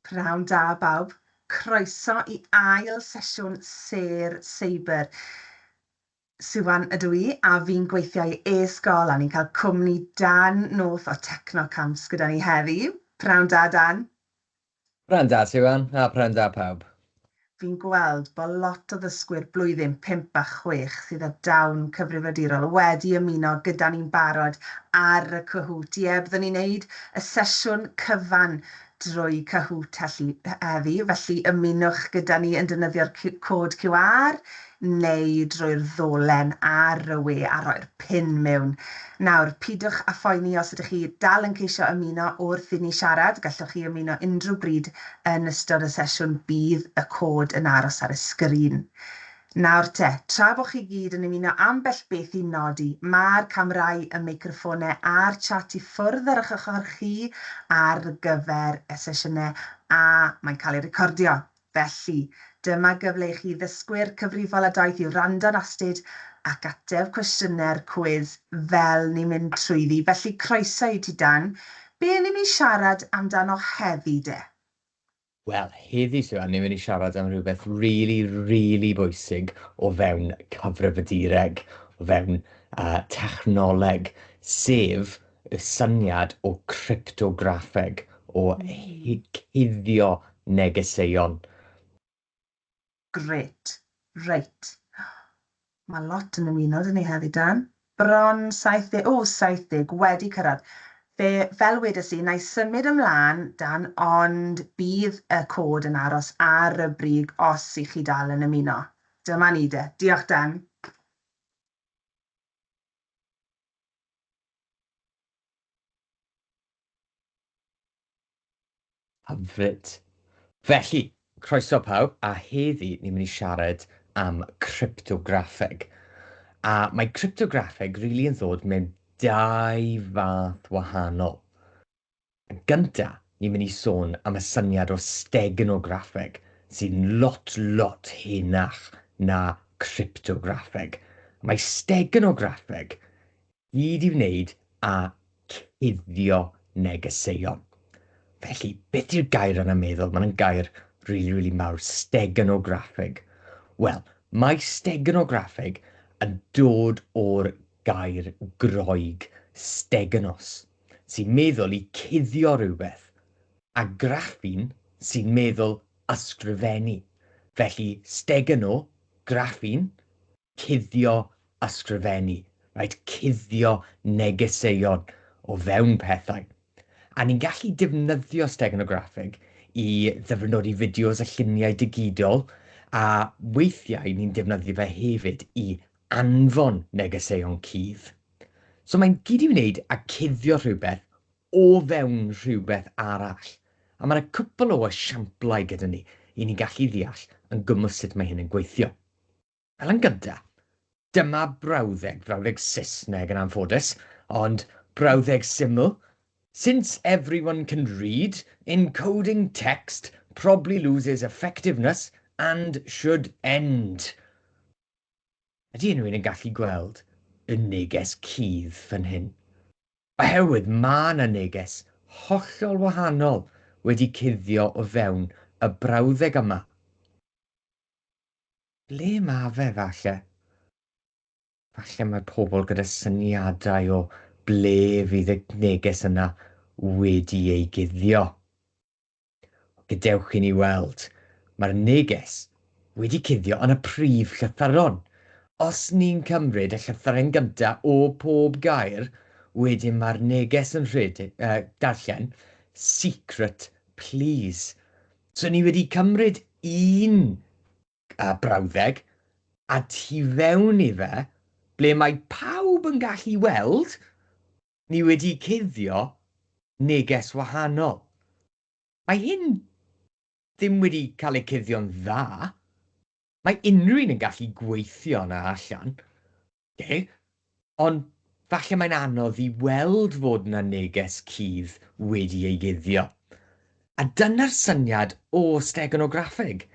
Pnawn da bawb, croeso i ail sesiwn Sêr Seibr. Siwan ydw i a fi'n gweithio i e-sgol a ni'n cael cwmni Dan North o Techno Camps gyda ni heddi. Pnawn da Dan. Pnawn da Siwan a pnawn da pawb. Fi'n gweld bod lot o ddysgwyr blwyddyn pump a chwech sydd â dawn cyfrifiadurol wedi ymuno gyda ni'n barod ar y Kahoot. Ie, byddwn ni'n wneud y sesiwn cyfan drwy Kahoot heddi, felly ymunwch gyda ni yn defnyddio'r cod QR neu drwy'r ddolen ar y we a rhoi'r pin mewn. Nawr, pidwch â phoeni os ydych chi dal yn ceisio ymuno wrth inni siarad, gallwch chi ymuno unrhyw bryd yn ystod y sesiwn, bydd y cod yn aros ar y sgrin. Nawr te, tra bod chi gyd yn ymuno ambell beth i nodi, mae'r camerâu, y meicroffônau a'r chat i ffwrdd ar eich ochr chi ar gyfer y sesiynau a mae'n cael eu recordio. Felly, dyma gyfle i chi ddysgwyr cyfrifol a daith i wrando'n astud ac ateb cwestiynau'r cwis fel ni'n mynd trwyddi. Felly, croeso i ti Dan. Be ni'n mynd i siarad amdano heddi de? Wel, heddi Siwan, ni'n mynd i siarad am rhywbeth rili, rili bwysig o fewn cyfrifiadureg, o fewn yy technoleg, sef y syniad o gryptograffeg o cuddio negeseuon. Grêt. Reit. Mae lot yn ymuno 'da ni heddi, Dan. Bron 70, o, 70, wedi cyrraedd. Fe, fel wedes i, na i symud ymlaen, Dan, ond bydd y cod yn aros ar y brig os i chi dal yn ymuno. Dyma ni de. Diolch, Dan. Hyfryd. Felly, croeso pawb, a heddi ni'n mynd i siarad am cryptograffeg. A mae cryptograffeg rili yn ddod mewn dau fath wahanol. Yn gynta, ni'n mynd i sôn am y syniad o stegnograffeg, sy'n lot, lot henach na cryptograffeg. Mae stegnograffeg gyd i wneud â cuddio negeseuon. Felly, beth yw'r gair yna meddwl? Mae'n gair rili, rili mawr, stegnograffeg. Wel, mae stegnograffeg yn dod o'r gair Groeg stegnos, sy'n meddwl i cuddio rhywbeth, a graffin sy'n meddwl ysgrifennu. Felly, stegynno, graffin, cuddio, ysgrifennu. Rhaid cuddio negeseuon o fewn pethau. A ni'n gallu defnyddio stegnograffeg i ddyfrnodi fideos a lluniau digidol, a weithiau ni'n defnyddio fe hefyd i anfon negeseuon cudd. So mae'n gyd i wneud â cuddio rhywbeth o fewn rhywbeth arall. A mae yna cwpl o esiamplau gyda ni i ni gallu ddeall yn gwmws sut mae hyn yn gweithio. Fel yn gyntaf, dyma brawddeg, brawddeg Saesneg yn anffodus, ond brawddeg syml, Since everyone can read, encoding text probably loses effectiveness and should end. Ydy unrhywun yn gallu gweld y neges cudd fan hyn? Oherwydd mae 'na neges hollol wahanol wedi cuddio o fewn y brawddeg yma. Ble mae fe, falle? Falle mae pobl gyda syniadau o ble fydd y neges yna wedi ei guddio. Gadewch i ni weld. Mae'r neges wedi cuddio yn y prif llythyron. Os ni'n cymryd y llythyren gynta' o pob gair, wedyn mae'r neges yn rhedeg, yy, darllen, secret please. So ni wedi cymryd un, yy, brawddeg, a tu fewn i fe, ble mae pawb yn gallu weld, Ni wedi cuddio neges wahanol. Mae hyn ddim wedi cael ei cuddio'n dda. Mae unrhyw un yn gallu gweithio yna allan. Ok. Ond falle mae'n anodd i weld fod yna neges cudd wedi ei guddio. A dyna'r syniad o stegonograffeg.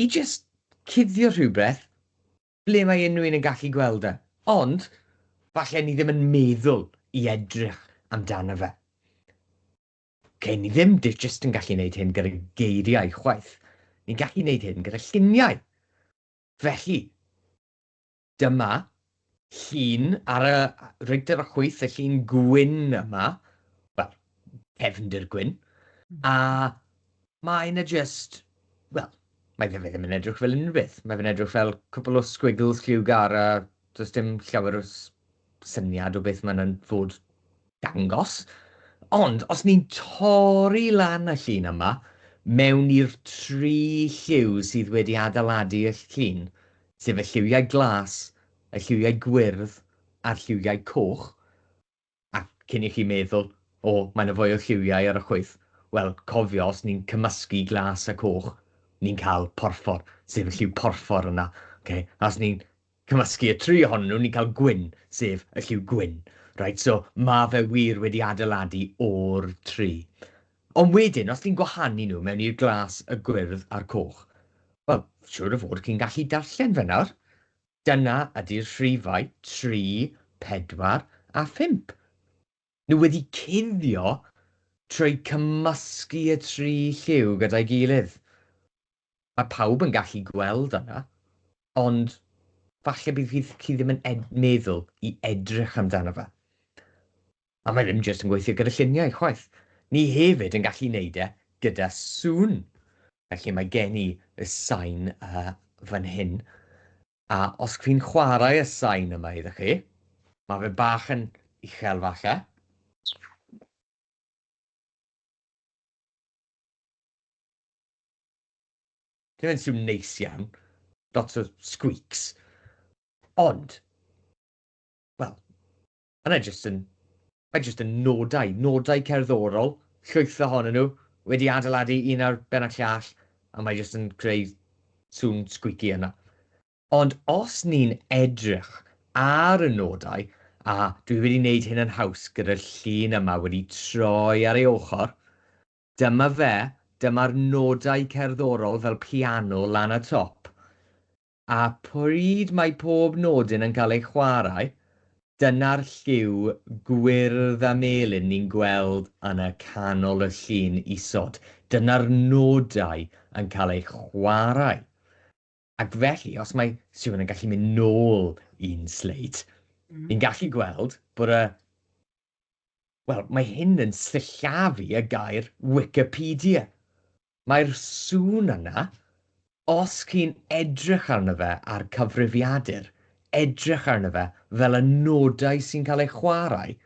I jyst cuddio rhywbeth ble mae unrhyw un yn gallu gweld e, ond falle ni ddim yn meddwl i edrych amdano fe. Ok, ni ddim jyst yn gallu gwneud hyn gyda geiriau chwaith, ni'n gallu gwneud hyn gyda lluniau. Felly, dyma llun ar y rigdr o chwyth, y llun gwyn yma, wel, cefndir gwyn, a Mae 'na jyst, wel, mae fe ddim yn edrych fel unrhyw beth. Mae fe'n edrych fel cwpl o sgwigls lliwgar a does dim llawer o syniad o beth mae'n fod dangos. Ond os ni'n torri lan y llun yma mewn i'r tri lliw sydd wedi adeiladu y llun, sef y lliwiau glas, y lliwiau gwyrdd a'r lliwiau coch, A cyn i chi meddwl, 'O, mae 'na fwy o lliwiau ar y chwith', wel, cofio, os ni'n cymysgu glas a coch, ni'n cael porffor, sef y lliw porffor yna, ocê? A os ni'n cymysgu y tri ohonyn nhw, ni'n cael gwyn, sef y lliw gwyn. Reit, so ma' fe wir wedi adeiladu o'r tri. Ond wedyn, os ni'n gwahanu nhw mewn i'r glas, y gwyrdd a'r coch, wel, siŵr o fod chi'n gallu darllen fe nawr. Dyna ydy'r rhifau tri, pedwar a phump. Nhw wedi cuddio trwy cymysgu y tri lliw gyda'i gilydd. Mae pawb yn gallu gweld yna, ond falle bydd chi ddim yn meddwl i edrych amdano fe. A mae ddim jyst yn gweithio gyda lluniau, chwaith. Ni hefyd yn gallu neud e gyda sŵn. Felly mae gen i y sain fan hyn, a os fi'n chwarae y sain yma iddo chi, mae fe bach yn uchel falle. Dim yn sŵn neis iawn, lots o squeaks, ond, wel, A na jyst yn, mae jyst yn nodau, nodau cerddorol, llwyth ohonyn nhw, wedi adeiladu un ar ben y llall, a mae jyst yn creu sŵn sgwici yna. Ond os ni'n edrych ar y nodau, a dwi wedi wneud hyn yn haws gyda'r llun yma wedi troi ar ei ochr, dyma fe, dyma'r nodau cerddorol fel piano lan y top. a phryd mae pob nodyn yn cael ei chwarae, dyna'r lliw gwyrdd a melyn ni'n gweld yn y canol y llun isod, dyna'r nodau yn cael eu chwarae. Ac felly, os mae Siwan yn gallu mynd nôl un sleid, ni'n gallu gweld bod y Wel, mae hyn yn sillafu y gair Wikipedia. Mae'r sŵn yna, os chi'n edrych arno fe a'r cyfrifiadur, edrych arno fe fel y nodau sy'n cael eu chwarae.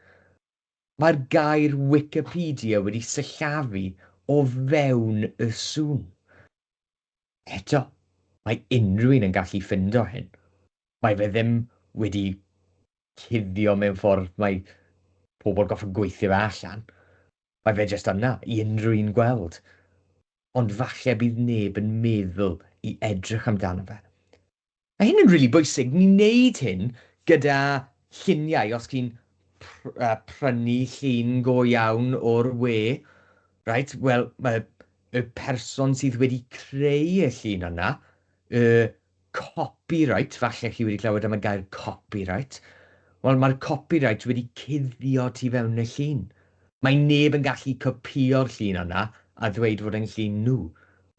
Mae'r gair Wikipedia wedi sillafu o fewn y sŵn. Eto, mae unrhyw un yn gallu ffindo hyn. Mae fe ddim wedi cuddio mewn ffordd mae pobl goffa gweithio fe allan. Mae fe jyst yna i unrhyw un gweld. Ond falle bydd neb yn meddwl i edrych amdano fe. Mae hyn yn rili bwysig, ni'n neud hyn gyda lluniau, os chi'n prynu llun go iawn o'r we, reit, wel, mae y person sydd wedi creu y llun yna, y copyright, falle chi wedi clywed am y gair copyright, wel, mae'r copyright wedi cuddio tu fewn y llun. Mae neb yn gallu copïo'r llun yna a ddweud fod e'n llun nhw,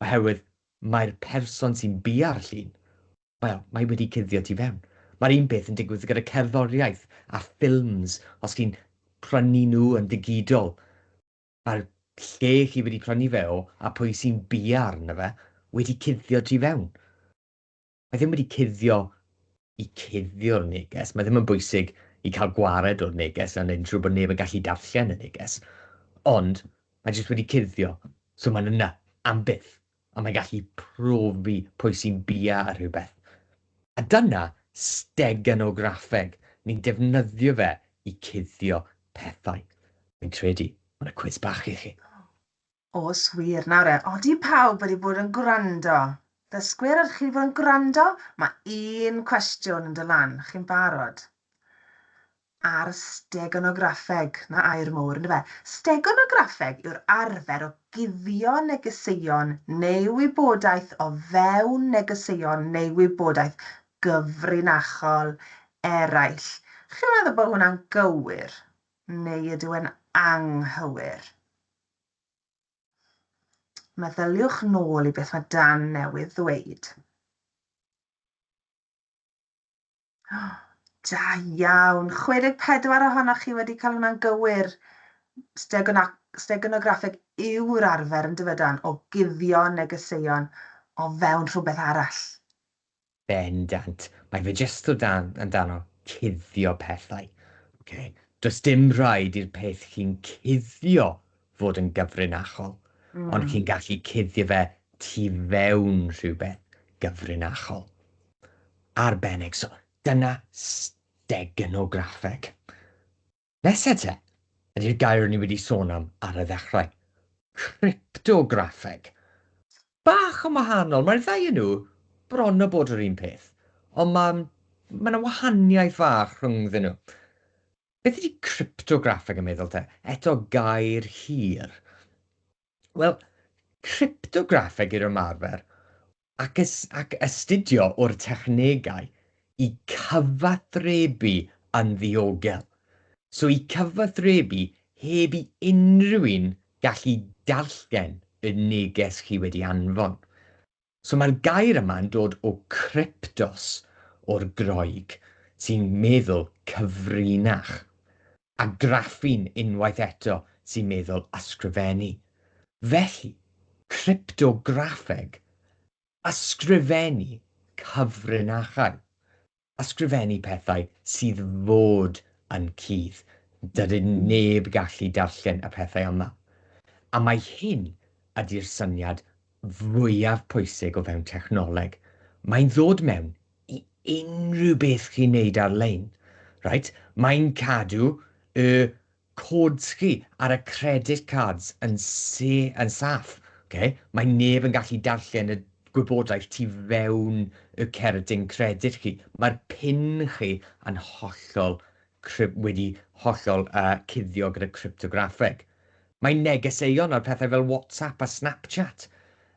oherwydd Mae'r person sy'n biau'r llun, wel, mae wedi cuddio tu fewn. Mae'r un peth yn digwydd gyda cerddoriaeth a ffilms, os chi'n prynu nhw yn ddigidol, mae'r lle chi wedi prynu fe o a pwy sy'n biau arno fe wedi cuddio tu fewn. mae ddim wedi cuddio i cuddio'r neges, mae ddim yn bwysig i cael gwared o'r neges a'n neud yn siŵr bod neb yn gallu darllen y neges, ond mae jyst wedi cuddio, so mae'n yna am byth, a mae'n gallu profi pwy sy'n bia ar rhywbeth. A dyna steganograffeg, ni'n defnyddio fe i cuddio pethau. Fi'n credu, mae yna cwis bach i chi. Oes wir, nawr e, od i pawb wedi bod yn gwrando. Ddysgwyr, ydych chi wedi bod yn gwrando? Mae un cwestiwn yn dod lan, chi'n barod? Ar stegonograffeg, na air mowr yn dyfe. Stegonograffeg yw'r arfer o guddio negeseuon neu wybodaeth o fewn negeseuon neu wybodaeth gyfrinachol eraill. Chi'n meddwl bod hwnna'n gywir neu ydyw e'n anghywir? Meddyliwch nôl i beth mae Dan newydd ddweud. Da iawn. 64 ohonoch chi wedi cael hwnna'n gywir. Stegonograffeg yw'r arfer yn dyfydan o guddio negeseuon o fewn rhywbeth arall. Bendant. Mae fe jyst o dan, amdano, cuddio pethau. Ok. Does dim rhaid i'r peth chi'n cuddio fod yn gyfrinachol, ond chi'n gallu cuddio fe tu fewn rhywbeth gyfrinachol. Arbennig. So, dyna stegenograffeg. Nesa te, ydy'r gair o'n i wedi sôn am ar y ddechrau, cryptograffeg. Bach yn wahanol, mae'r ddau yn nhw bron o bod yr un peth, ond mae mae yna wahaniaeth fach rhyngddyn nhw. Beth ydy cryptograffeg yn meddwl te? Eto gair hir. Wel, cryptograffeg yw'r ymarfer ac, ys, ac astudio o'r technegau i cyfathrebu yn ddiogel. So i cyfathrebu heb i unrhyw un gallu darllen y neges chi wedi anfon. So mae'r gair yma'n dod o kryptos, o'r Groeg, sy'n meddwl cyfrinach, a graffin unwaith eto sy'n meddwl ysgrifennu. Felly, cryptograffeg, ysgrifennu cyfrinachau. ysgrifennu pethau sydd fod yn cudd. Dydy neb gallu darllen y pethau yma. A mai hyn ydy'r syniad fwyaf pwysig o fewn technoleg. Mae'n ddod mewn i unrhyw beth chi'n neud ar-lein. Reit, mae'n cadw y codes chi ar y credit cards yn sa- yn saff, ok? Mae neb yn gallu darllen y gwybodaeth tu fewn y cerdyn credit chi. Mae'r pin chi yn hollol cryp- wedi hollol uh, cuddio gyda cryptograffeg. Mae negeseuon ar pethau fel WhatsApp a Snapchat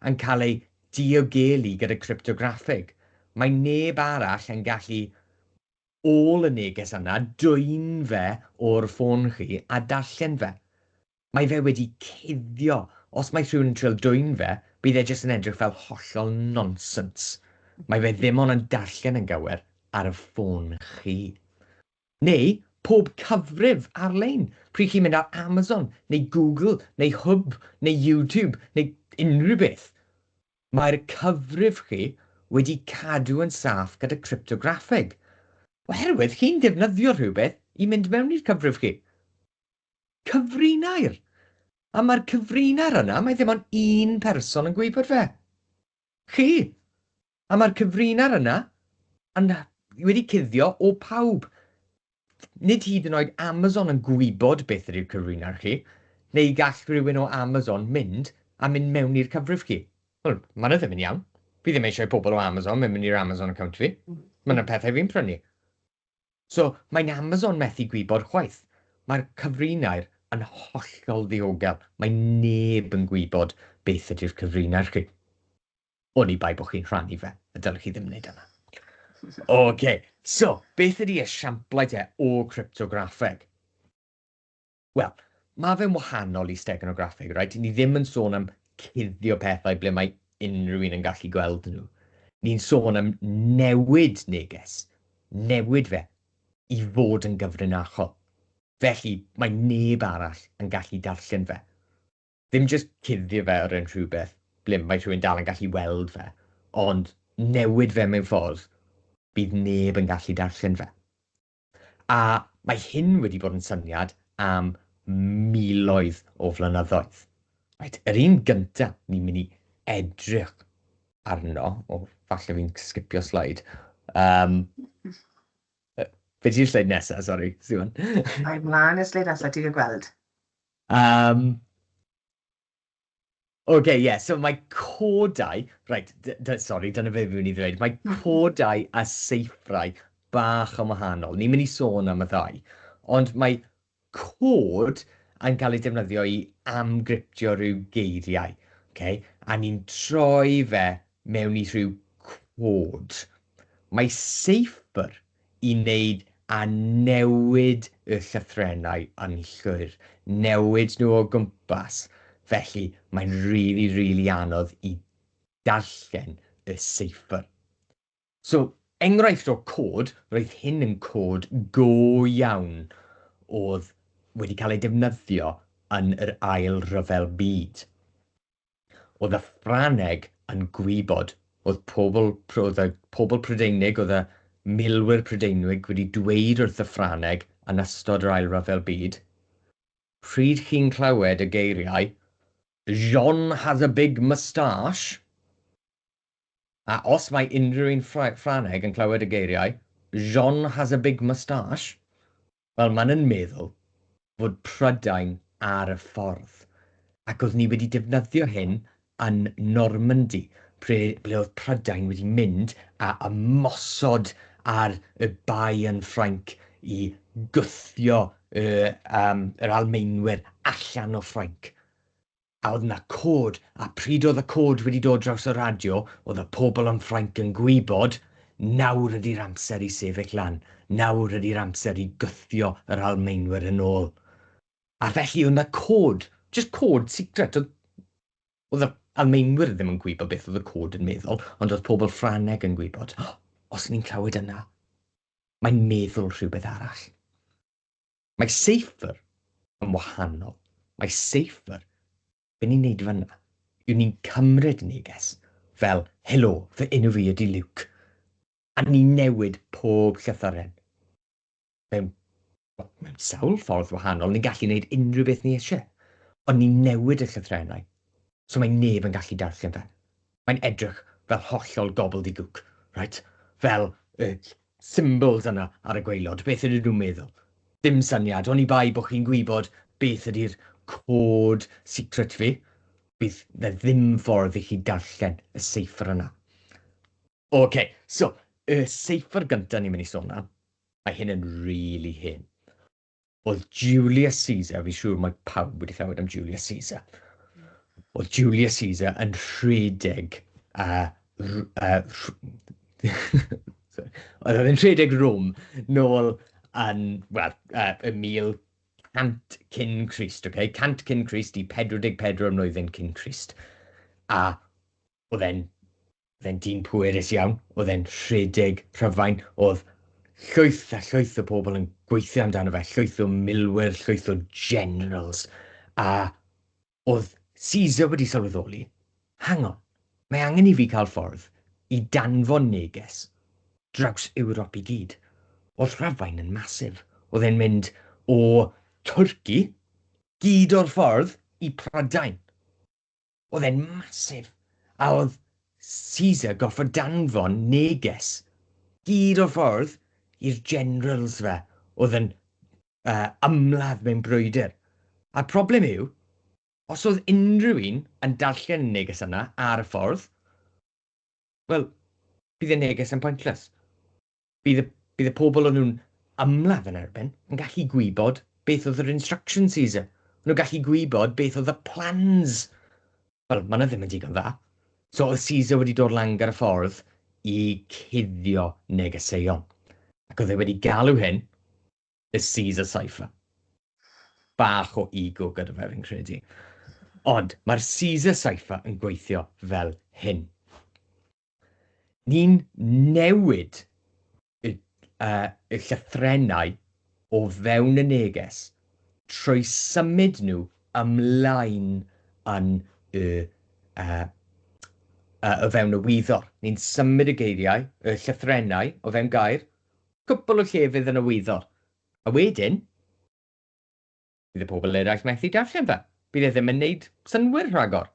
yn cael eu diogelu gyda cryptograffeg. Mae neb arall yn gallu ôl y neges yna, dwyn fe o'r ffôn chi a darllen fe. Mae fe wedi cuddio. Os mae rhywun yn trial dwyn fe, bydd e jyst yn edrych fel hollol nonsens. Mae fe ddim ond yn darllen yn gywir ar y ffôn chi. Neu pob cyfrif ar-lein, pryd chi'n mynd ar Amazon neu Google neu Hub neu YouTube neu unrhyw beth. Mae'r cyfrif chi wedi cadw yn saff gyda cryptograffeg, oherwydd chi'n defnyddio rhywbeth i mynd mewn i'r cyfrif chi. Cyfrinair! A mae'r cyfrinair yna, mae ddim ond un person yn gwybod fe. Chi! A mae'r cyfrinair yna yn wedi cuddio o pawb. Nid hyd yn oed Amazon yn gwybod beth ydy'r cyfrin ar chi, neu gall rhywun o Amazon mynd a mynd mewn i'r cyfrif chi. Wel, mae 'na ddim yn iawn. Fi ddim eisiau i pobl o Amazon mynd mewn i'r Amazon account fi. Mae 'na pethau fi'n prynu. So, mae'n Amazon methu gwybod chwaith. Mae'r cyfrinair yn hollol ddiogel. Mae neb yn gwybod beth ydy'r cyfrinair chi. Oni bai bod chi'n rhannu fe, y dylech chi ddim wneud yna. OK, so, beth ydy esiamplau te o cryptograffeg? Wel, mae fe'n wahanol i steganograffeg, reit? Ni ddim yn sôn am cuddio pethau ble mae unrhyw un yn gallu gweld nhw. Ni'n sôn am newid neges, newid fe i fod yn gyfrinachol. Felly, mae neb arall yn gallu darllen fe. ddim jyst cuddio fe o ran rhywbeth ble mae rhywun dal yn gallu weld fe, ond newid fe mewn ffordd bydd neb yn gallu darllen fe. A mae hyn wedi bod yn syniad am miloedd o flynyddoedd. Reit, yr un gynta ni'n mynd i edrych arno, o, falle fi'n sgipio sleid. Um, be di'r sleid nesaf, sori, Siwan? Mae mlaen y sleid nesaf, ti'n gweld? Yym, oce, ie, so mae codau, reit, sori, dyna be fi mynd i ddweud, mae codau a seithrau bach yn wahanol. Ni'n mynd i sôn am y ddau, ond mae cod yn cael ei defnyddio i amgryptio rhyw geiriau, oce, a ni'n troi fe mewn i rhyw cod. Mae seifr i wneud â newid y llythrennau yn llwyr, newid nhw o gwmpas, felly mae'n rili, rili anodd i darllen y seifr. So, enghraifft o cod, roedd hyn yn cod go iawn oedd wedi cael ei defnyddio yn yr Ail Ryfel Byd. Oedd y Ffrangeg yn gwybod, oedd pobl, oedd y pobl Prydeinig, oedd y milwyr Prydeinig wedi dweud wrth y Ffrangeg yn ystod yr Ail Ryfel Byd, pryd chi'n clywed y geiriau Jean has a big moustache, A os mae unrhyw un Ffrangeg yn clywed y geiriau 'Jean has a big moustache', wel, maen nhw'n meddwl fod Prydain ar y ffordd. Ac oeddwn i wedi defnyddio hyn yn Normandy, ble oedd Prydain wedi mynd a ymosod ar y Bae yn Ffrainc i gwthio yr Almaenwyr allan o Ffrainc. A oedd 'na cod, a pryd oedd y cod wedi dod draws y radio, oedd y pobl yn Ffrainc yn gwybod, nawr ydi'r amser i sefyll lan, nawr ydi'r amser i gwthio yr Almaenwyr yn ôl. A felly oedd 'na cod, jyst cod secret, oedd, oedd yr Almaenwyr ddim yn gwybod beth oedd y cod yn meddwl, ond oedd pobl Ffrangeg yn gwybod, os ni'n clywed yna, mae'n meddwl rhywbeth arall. Mae Safer yn wahanol. Mae Safer, be ni'n neud fanna, yw ni'n cymryd neges fel, helo, fy enw fi ydy Luke, a ni'n newid pob llythyren. Mewn, wel, mewn sawl ffordd wahanol, ni'n gallu neud unrhyw beth ni eisiau, ond ni'n newid y llythrennau, so mae neb yn gallu darllen fe. Mae'n edrych fel hollol gobbledygook, reit, fel y symbols yna ar y gwaelod, beth ydyn nhw'n meddwl? Dim syniad, oni bai bod chi'n gwybod beth ydy'r cod secret fi, bydd 'na ddim ffordd i chi darllen y seifr yna. Ok, so, y seifr gynta ni'n mynd i sôn am, mae hyn yn rili hen. Oedd Julius Caesar, fi siŵr mae pawb wedi clywed am Julius Caesar. Oedd Julius Caesar yn rhedeg a... oedd yn rhedeg Rome nôl yn, wel, uh, y 1100 cyn Christ, okay? 100 cyn Christ i 44 mlynedd cyn Christ. A oedd e'n Oedd e'n dyn pwerus iawn, oedd e'n rhedeg Rhufain, oedd llwyth a llwyth o bobl yn gweithio amdano fe, llwyth o milwyr, llwyth o generals, a oedd Caesar wedi sylweddoli, hang on, mae angen i fi cael ffordd i danfon neges draws Ewrop i gyd. Oedd Rhufain yn massive, oedd e'n mynd o Twrci gyd o'r ffordd i Prydain, Oedd e'n massive. A oedd Caesar gorfod danfon neges gyd o'r ffordd i'r generals fe oedd yn uh, ymladd mewn brwydr. A'r problem yw, os oedd unrhyw un yn darllen y neges yna ar y ffordd, wel, bydd y neges yn pointless. Bydd y, bydd y pobl o'n nhw'n ymladd yn erbyn yn gallu gwybod beth oedd yr instruction sees. O'n nhw'n gallu gwybod beth oedd y plans. Wel, mae yna ddim yn digon dda. So oedd Caesar wedi dod lan gyda ffordd i cuddio negeseuon. Ac oedd e wedi galw hyn y Caesar Cypher. Bach o ego gyda fe, fi'n credu. Ond mae'r Caesar Cypher yn gweithio fel hyn. Ni'n newid y, uh, y llythrennau o fewn y neges trwy symud nhw ymlaen yn y, uh, uh, o fewn y wyddor. Ni'n symud y geiriau, y llythrennau o fewn gair, cwpl o llefydd yn y wyddor. A wedyn, Bydd y pobl eraill methu darllen fe. Bydd e ddim yn neud synnwyr rhagor.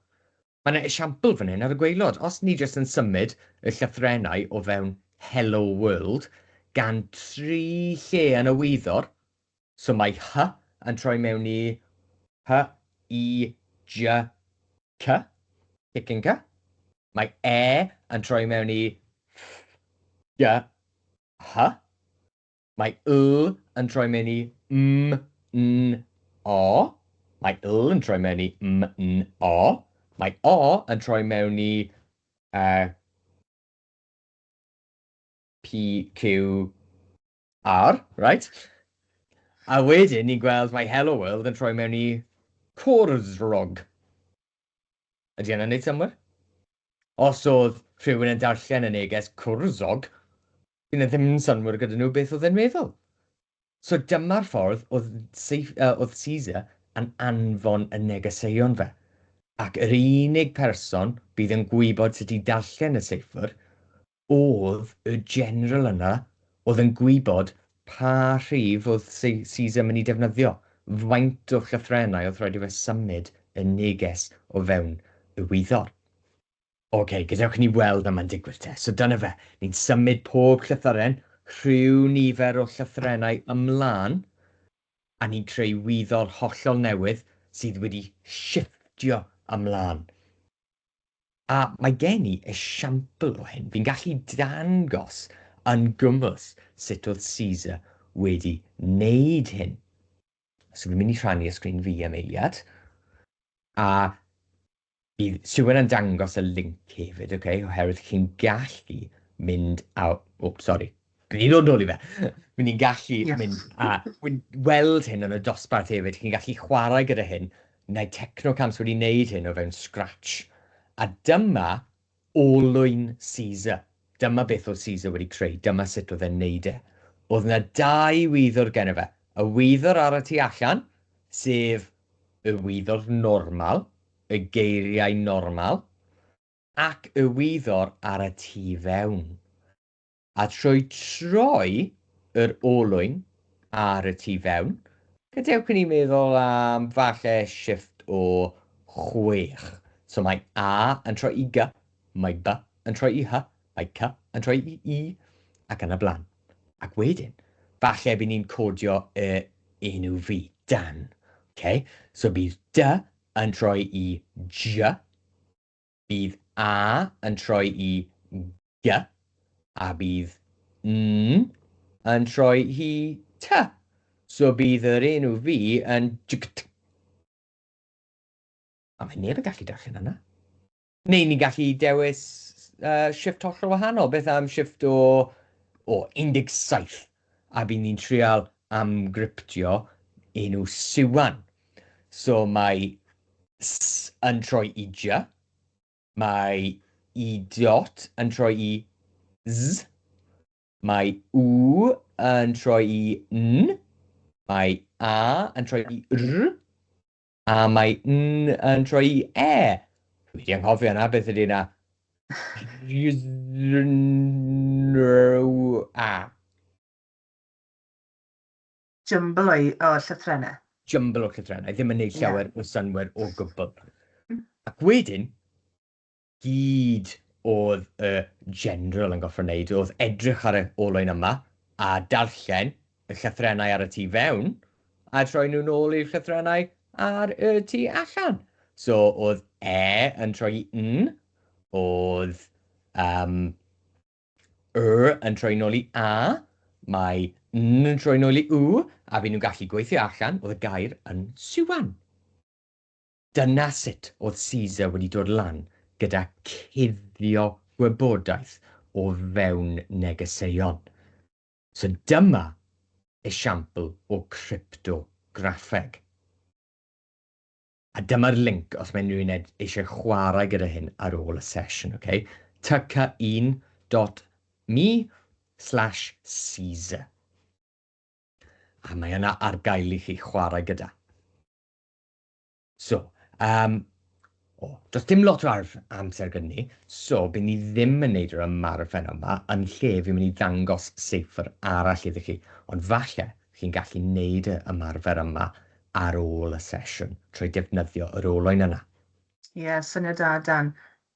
Mae yna esiampl fan hyn ar y gwaelod. Os ni jyst yn symud y llythrennau o fewn Hello World gan dri lle yn y wyddor, so mae H yn troi mewn i H, I, J, K, Chicken K, mae E yn troi mewn i F, G, H, Mae yl yn troi mewn i mm, n, o. Mae yl yn troi mewn i mm, n, o. Mae o yn troi mewn i uh, P, Q, R, right? A wedyn ni'n gweld mae Hello World yn troi mewn i Cwrdd Rog. Ydy hynna'n neud synnwyr? Os o'dd rhywun yn darllen y neges cwrwsog, fydd 'na ddim synnwyr gyda nhw beth o'dd e'n meddwl. So dyma'r ffordd o'dd Seif- yy o'dd Caesar yn anfon y negeseuon fe. Ac yr unig person fydd yn gwybod sut i darllen y seifr O'dd y General yna o'dd yn gwybod pa rhif o'dd Caesar myn' i defnyddio, faint o llythrennau o'th raid i fe symud y neges o fewn y wyddor. Ok, gadewch ni weld a ma'n digwydd te. So dyna fe, ni'n symud pob llythyren rhyw nifer o llythrennau ymlan, a ni'n creu wyddor hollol newydd sydd wedi shifftio ymlan. A mae gen i esiampl o hyn, fi'n gallu dangos yn gymwys sut oedd Caesar wedi wneud hyn. So fi'n mynd i rhannu y sgrin fi am eiliad, a bydd Siwan yn dangos y link hefyd, okay, oherwydd chi'n gallu mynd a, o, sori, Fi'n mynd i ddod nôl i fe. Fi'n ni'n gallu yeah. mynd a... Fi'n weld hyn yn y dosbarth hefyd, chi'n gallu chwarae gyda hyn. Mae Technocams wedi wneud hyn o fewn Scratch. A dyma olwyn Caesar. Dyma beth oedd Caesar wedi creu, dyma sut oedd e'n wneud e. Oedd yna dau wyddwr gen fe. Y wyddwr ar y tu allan, sef y wyddwr normal, y geiriau normal, ac y wyddwr ar y tu fewn. A trwy troi yr olwyn ar y tu fewn, gadewch i ni feddwl am falle shifft o chwech. So mae A yn troi i Gy, mae By yn troi i Hy, mae Cy yn troi i Y, ac yn y blaen. Ac wedyn, falle by ni'n codio y enw fi, Dan. Okay? So bydd Dy yn troi i Jy, Bydd a yn troi i g, a bydd n yn troi i t, so bydd yr enw fi yn jgt. A mae neb yn gallu darllen hynna. Neu ni'n gallu dewis uh, shift hollol wahanol. Beth am shift o, o 17? a by ni'n trial amgryptio enw Siwan. So mae s yn troi i jy, mae y dot yn troi i z, mae w yn troi i n, mae a yn troi i r, A mae N yn troi i E. Dwi wedi anghofio na beth ydy na. A. Jumble o'i o llythrennau. Jumble o llythrennau, ddim yn neud llawer yeah. o synwyr o gwbl. Ac wedyn, gyd oedd y General yn gorfod wneud oedd edrych ar y olwyn yma a darllen y llythrennau ar y tu fewn a troi nhw'n ôl i'r llythrennau ar y tu allan. So oedd E yn troi i N, oedd um, R yn troi nôl i A, mae N yn troi nôl i U, a fi nhw'n gallu gweithio allan oedd y gair yn siwan. Dyna sut oedd Caesar wedi dod lan gyda cuddio gwybodaeth o fewn negeseuon. So dyma esiampl o cryptograffeg. A dyma'r linc os mae unrhyw un ed- eisiau chwarae gyda hyn ar ôl y sesiwn, ok? Tyca1 dot me slash Caesar. A mae yna ar gael i chi chwarae gyda. So, um, o, does dim lot o arf amser gyda ni, so bydd ni ddim yn neud yr ymarfer yma, yn lle fi'n mynd i ddangos seifr arall iddo chi. Ond falle chi'n gallu neud y ymarfer yma ar ôl y sesiwn, trwy defnyddio yr olwyn yna. Ie, yeah, syniad da, Dan.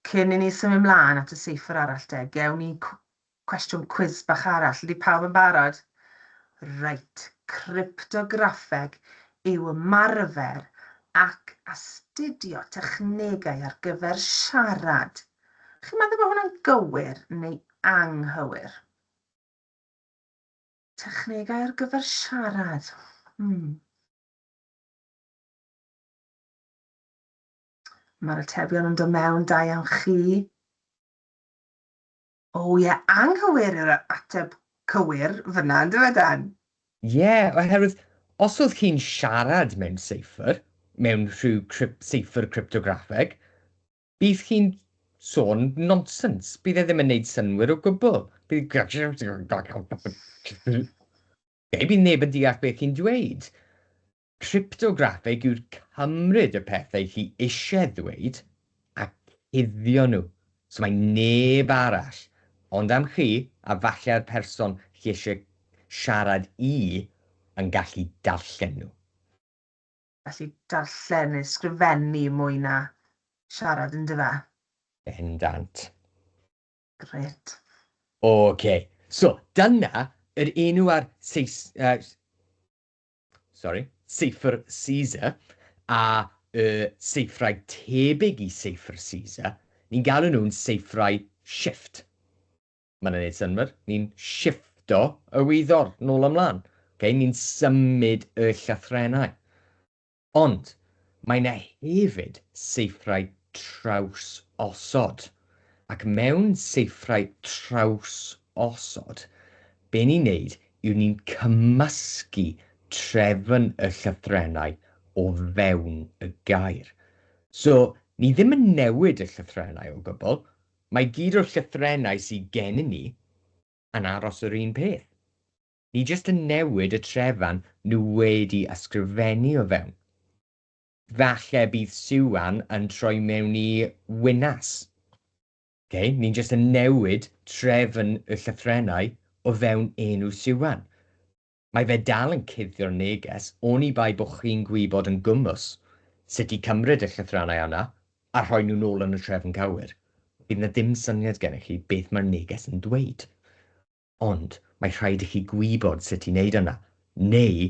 Cyn i ni symud mlaen at y seifr arall de, gewn ni Cwestiwn cwis bach arall, ydy pawb yn barod? Reit, cryptograffeg yw ymarfer ac astudio technegau ar gyfer siarad. Chi'n meddwl bod hwnna'n gywir neu anghywir? Technegau ar gyfer siarad. Hmm. Mae'r atebion yn dod mewn, da iawn chi. O ie, anghywir yw'r ateb cywir fynna, yndyw e Dan? Ie, oherwydd os oedd chi'n siarad mewn seifr, mewn rhyw cryp- seifr cryptograffeg, bydd chi'n sôn nonsens, bydd e ddim yn neud synwyr o gwbl, bydd bydd neb yn deall beth chi'n dweud. Cryptograffeg yw'r cymryd y pethau chi eisiau ddweud a cuddio nhw so mae neb arall ond am chi a falle'r person chi eisiau siarad i yn gallu darllen nhw. Gallu darllen neu sgrifennu mwy na siarad yn dyfe? Bendant. Grêt. Ok, so dyna yr enw ar Sais-, sori, seifr Caesar, a y seifrau tebyg i seifr Caesar, ni'n galw nhw'n seifrau shift. Mae'n gwneud synnwyr? Ni'n shifto y wyddor nôl a mlaen. Okay? Ni'n symud y llythrennau. Ond mae yna hefyd seifrau traws osod. Ac mewn seifrau traws osod, Be ni'n neud yw ni'n cymysgu trefn y llythrennau o fewn y gair. So, ni ddim yn newid y llythrennau o gwbl, mae gyd o'r llythrennau sy gennym ni yn aros yr un peth. Ni jyst yn newid y trefn nhw wedi ysgrifennu o fewn. Falle bydd Siwan yn troi mewn i Winas. Ok, ni'n jyst yn newid trefn y llythrennau o fewn enw Siwan. Mae fe dal yn cuddio'r neges oni bai bo chi'n gwybod yn gwmws sut i cymryd y llythrannau yna a rhoi nhw nôl yn y trefn cywir. Bydd 'na ddim syniad gennych chi beth mae'r neges yn dweud. Ond mae rhaid i chi gwybod sut i wneud yna, neu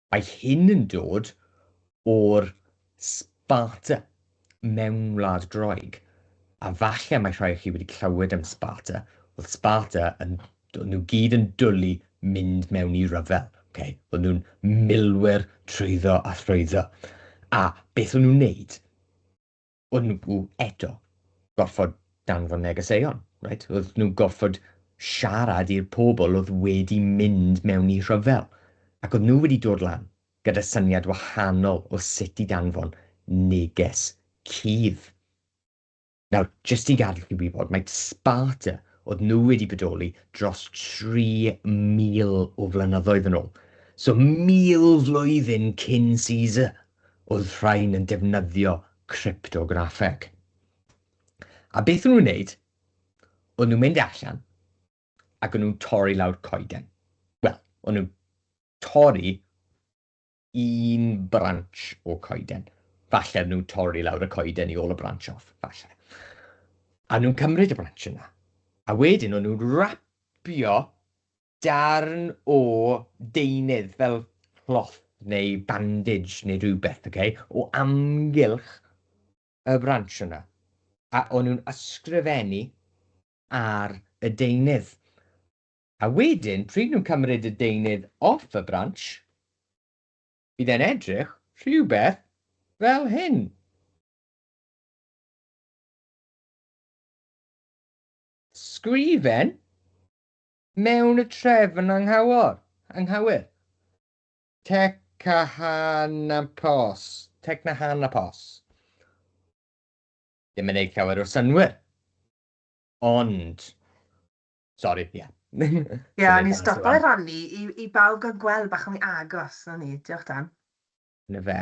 Mae hyn yn dod o'r Sparta mewn wlad Groeg, a falle mae rhai o chi wedi clywed am Sparta. Oedd Sparta yn, oedd nhw gyd yn dwlu mynd mewn i ryfel. Okay? Oedd nhw'n milwyr trwyddo a thrwyddo. A beth o'n nhw'n wneud? Oedd nhw eto gorfod danfon negeseuon, right? oedd nhw gorfod siarad i'r pobl oedd wedi mynd mewn i rhyfel, ac oedd nhw wedi dod lan gyda syniad wahanol o sut i danfon neges cudd. Nawr, jyst i gadw chi wybod, mae Sparta oedd nhw wedi bodoli dros 3,000 o flynyddoedd yn ôl. So, mil flwyddyn cyn Caesar, wrth rhain yn defnyddio cryptograffeg. A beth o'n nhw'n wneud? O'n nhw'n mynd allan ac o'n nhw'n torri lawr coeden. Wel, o'n nhw'n torri un branch o coeden. Falle o'n nhw'n torri lawr y coeden i ôl y branch off, falle. A nhw'n cymryd y branch yna. A wedyn o'n nhw'n rapio darn o deunydd fel cloth neu bandage neu rhywbeth, ok, o amgylch y branch yna, a o'n nhw'n ysgrifennu ar y deunydd. A wedyn, pryd nhw'n cymryd y deunydd off y branch, bydd e'n edrych rhywbeth fel hyn. Sgrifen Mewn y trefn anghywir, anghywir. Tecnahanaphos, Tecnahanaphos. Ddim yn neud llawer o synnwyr. Ond. Sorry, ie. Yeah. Ie, yeah, ni'n stopo i rannu i, i bawb gael gweld bach o'n i agos, o'n ni. Diolch, Dan. 'Na fe.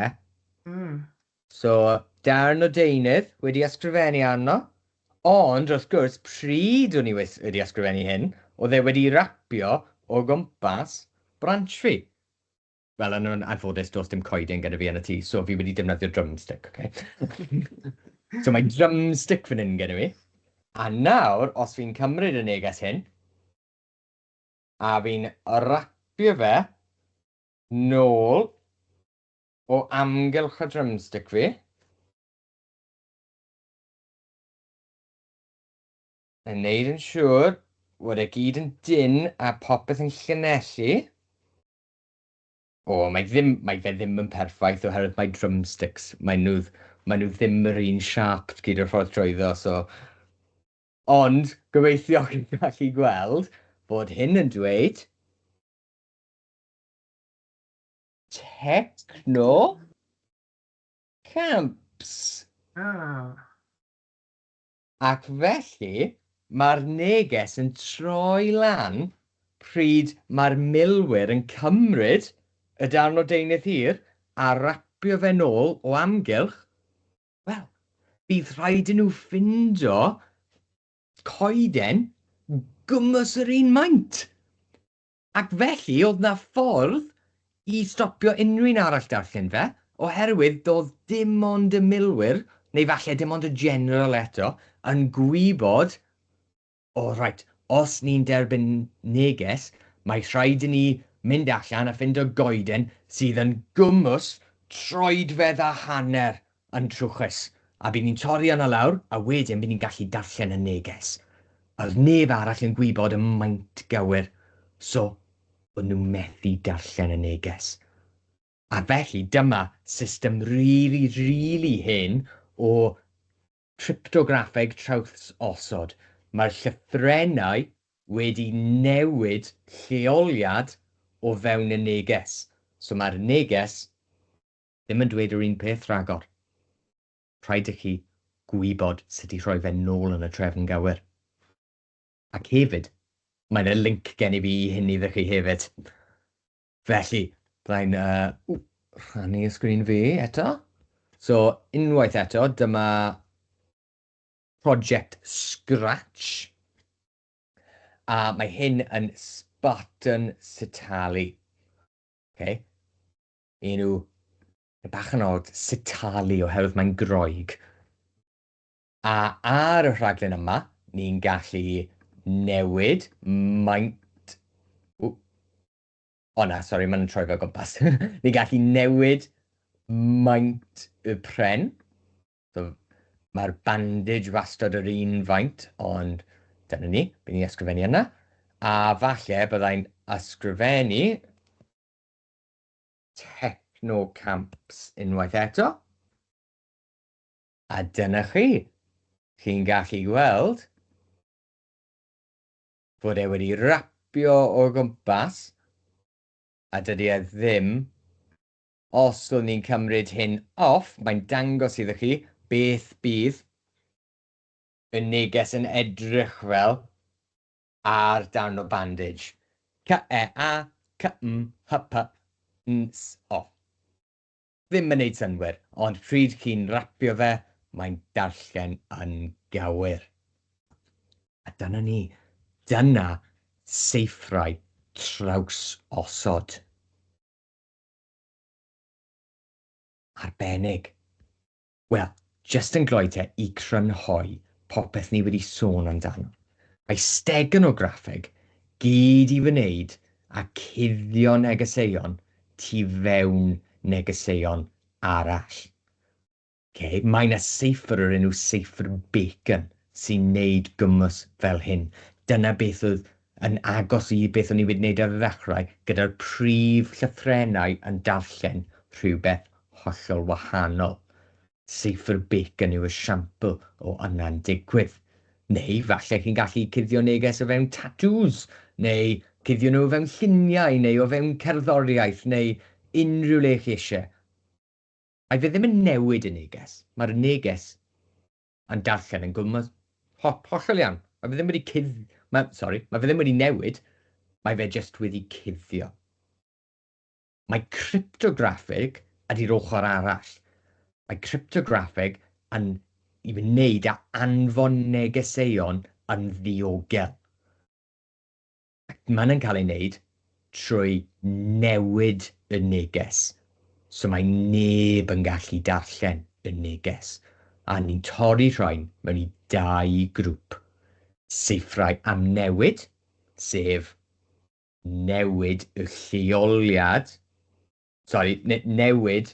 Mm. So, darn o deunydd wedi ysgrifennu arno, ond wrth gwrs, pryd o'n i wedi ysgrifennu hyn, oedd e wedi rapio o gwmpas branch fi. Fel yn yn anffodus, does dim coeden gyda fi yn y tŷ, so fi wedi defnyddio drumstick, okay? so mae drumstick fan hyn gyda fi. A nawr, os fi'n cymryd y neges hyn, a fi'n rapio fe nôl o amgylch y drumstick fi. Yn neud yn siŵr fod e gyd yn dynn a popeth yn llynellu. O, mae, ddim, mae fe ddim yn perffaith oherwydd mae drumsticks, mae nhw, mae nhw ddim yr un siap gyd o'r ffordd trwyddo, so... Ond, gobeithio chi'n gallu gweld bod hyn yn dweud Techno Camps. Ah. Ac felly, mae'r neges yn troi lan pryd mae'r milwyr yn cymryd y darn o deunydd hir a rapio fe'n ôl o amgylch, wel, bydd rhaid i nhw ffindo coeden gwmws yr un maint. Ac felly oedd 'na ffordd i stopio unrhyw un arall darllen fe, oherwydd doedd dim ond y milwyr, neu falle dim ond y General eto, yn gwybod, O reit, os ni'n derbyn neges, mae rhaid i ni mynd allan a ffindo goeden sydd yn gwmws troedfedd a hanner yn trwchus, a by' ni'n torri arno lawr, a wedyn by' ni'n gallu darllen y neges. A'r neb arall yn gwybod y maint gywir, so bo' nw methu darllen y neges. A felly dyma system rili, rili hen o cryptograffeg trawsosod, mae'r llythrennau wedi newid lleoliad o fewn y neges, so mae'r neges ddim yn dweud yr un peth rhagor. Rhaid i chi gwybod sut i rhoi fe nôl yn y trefn gywir. Ac hefyd, mae yna linc gen i fi i hyn iddo chi hefyd. Felly, byddai'n uh, rhannu y sgrin fi eto. So, unwaith eto, dyma project Scratch. A mae hyn yn Spartan Sitali. Okay. Enw bach yn od, Sitali, oherwydd mae'n Groeg. A ar y rhaglen yma, ni'n gallu newid maint... O, o na, sori, mae'n troi fel gwmpas. ni'n gallu newid maint y pren. So, Mae'r bandage wastad yr un faint, ond dyna ni, bydd ni'n ysgrifennu yna. A falle byddai'n ysgrifennu Techno Camps unwaith eto. A dyna chi. Chi'n gallu gweld fod e wedi rapio o gwmpas a dydy e ddim, os o'n i'n cymryd hyn off, mae'n dangos iddo chi beth bydd y neges yn edrych fel ar darn o bandej, k-e-a, k-m, h-p, n-s, o. Ddim yn neud synnwyr, ond pryd chi'n rapio fe, mae'n darllen yn gywir. A dyna ni. Dyna seithrau trawsosod. Arbennig. Wel, jyst yn gloi te i crynhoi popeth ni wedi sôn amdano. Mae stegonograffeg gyd i wneud â cuddio negeseuon tu fewn negeseuon arall. Ok, mae 'na seifr o'r enw seifr Bacon sy'n neud gwmws fel hyn. Dyna beth oedd yn agos i beth o'n i wedi wneud ar y ddechrau, gyda'r prif llythrennau yn darllen rhywbeth hollol wahanol. Cypher bacon yw esiampl o yna'n digwydd. Neu falle chi'n gallu cuddio neges o fewn tatŵs, neu cuddio nhw o fewn lluniau, neu o fewn cerddoriaeth, neu unrhyw le chi eisiau. Ai fe ddim yn newid y neges? Mae'r neges yn darllen yn gwmws. Ho, hollol iawn. Mae fe ddim wedi cudd... Mae, sorry, mae fe ddim wedi newid, mae fe jyst wedi cuddio. Mae cryptograffeg ydy'r ochr arall. Mae cryptograffeg yn i wneud â anfon negeseuon yn ddiogel. Ac mae hynny'n cael ei wneud trwy newid y neges, so mae neb yn gallu darllen y neges, a ni'n torri rhain mewn i dau grŵp, Saethau am Newid, sef newid y lleoliad, sori, newid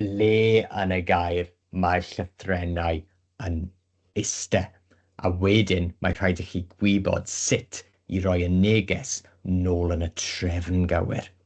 Lle yn y gair mae'r llythrennau yn iste, a wedyn mae rhaid i chi gwybod sut i roi y neges nôl yn y trefn gywir.